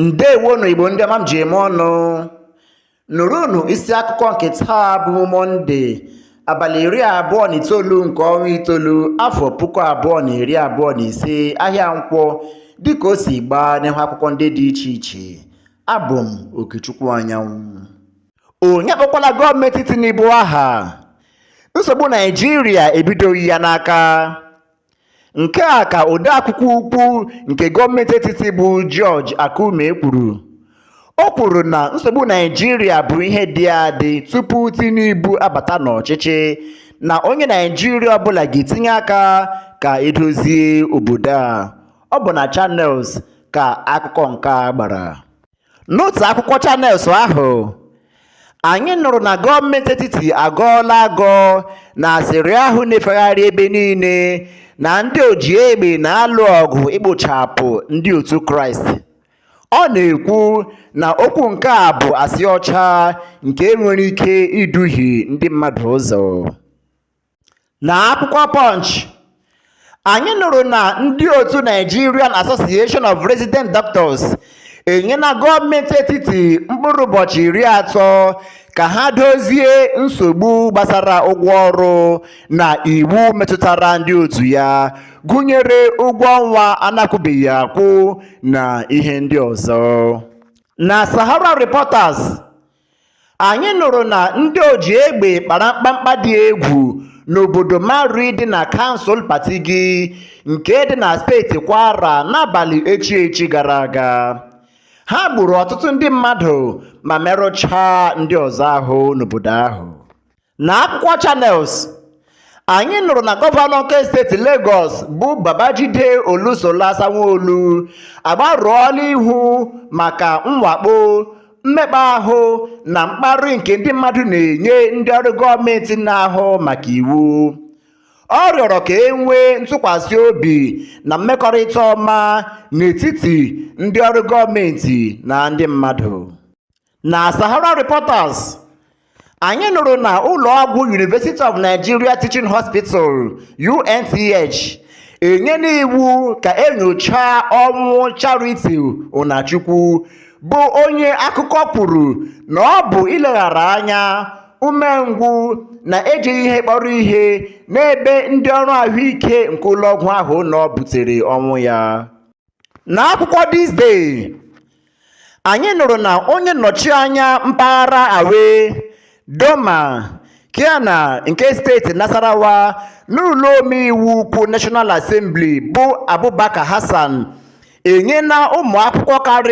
ndewonụ igbo ndị ọma m ji eme ọnụ nụrụnụ isi akụkọ nke taa bụ mọnde abalị iri abụọ na itoolu nke ọnwa itoolu afọ puku abụọ na iri abụọ na ise ahịa nkwọ dịka o si gbaa n'ihu akwụkwọ ndị dị iche iche abụ m okechukwu anyanwụ onye akpọkwala gọọmenti tinubu aha nsogbu naịjirịa ebidoghị ya n'aka Nke a ka odeakwụkwọ ukwu nke gọọmenti etiti bụ George Akume kwuru. O kwuru na nsogbu Naịjirịa bụ ihe dị adị tupu Tinubu abata n'ọchịchị na onye Naịjirịa ọbụla ga-etinye aka ka edozie obodo a. Ọ bụ na Channels ka akụkọ nke a gbara. N'otu akwụkwọ Channels ahụ, anyị nụrụ na gọọmenti etiti agọọla agọ na asịrị ahụ na-efegharị ebe niile na ndị oji egbe na-alụ ọgụ ikpochapụ ndị otu Kraịst. Ọ na-ekwu na okwu nke a bụ asị ọcha nke nwere ike iduhie ndị mmadụ ụzọ. na akwụkwọ punch anyị nụrụ na ndị otu nigerian association of resident doctors enyela gọọmenti etiti mkpụrụ ụbọchị iri atọ ka ha dozie nsogbu gbasara ụgwọ ọrụ na iwu metụtara ndị otu ya gụnyere ụgwọ ọnwa a na-akwụbeghị akwụ na ihe ndị ọzọ na sahara reporters Anyị nụrụ na ndị oji egbe kpara mkpamkpa dị egwu n'obodo Marri dị na kansụl Patigi nke dị na steeti Kwara n'abalị echi echi gara aga. Ha gburu ọtụtụ ndị mmadụ ma merụchaa ndị ọzọ ahụ n'obodo ahụ. Na akwụkwọ Channels, anyị nụrụ na gọvanọ nke steeti Legọs bụ Babajide Olusola Sanwo-Olu agbarụọla ihu maka mwakpo, mmekpa ahụ na mkparị nke ndị mmadụ na-enye ndị ọrụ gọọmenti na-ahụ maka iwu. Ọ rịọrọ ka e nwee ntụkwasị obi na mmekọrịta ọma n'etiti ndị ọrụ gọọmenti na ndị mmadụ. na Sahara Reporters anyị nụrụ na ụlọọgwụ University of Nigeria Teaching Hospital UNTH enyela iwu ka enyochaa ọnwụ Charity Ụnachukwu bụ onye akụkọ kwuru na ọ bụ ileghara anya umengwụ na ejighị ihe kpọrọ ihe n'ebe ndị ọrụ ahụike nke ụlọọgwụ ahụ nọ butere ọnwụ ya n'akwụkwọ this day anyị nụrụ na onye nnọchi anya mpaghara awe doma keana nke steeti nasarawa n'ụlọ omeiwu ukwu national assembly bụ abubakar hassan enyela ụmụ akwụkwọ karịrị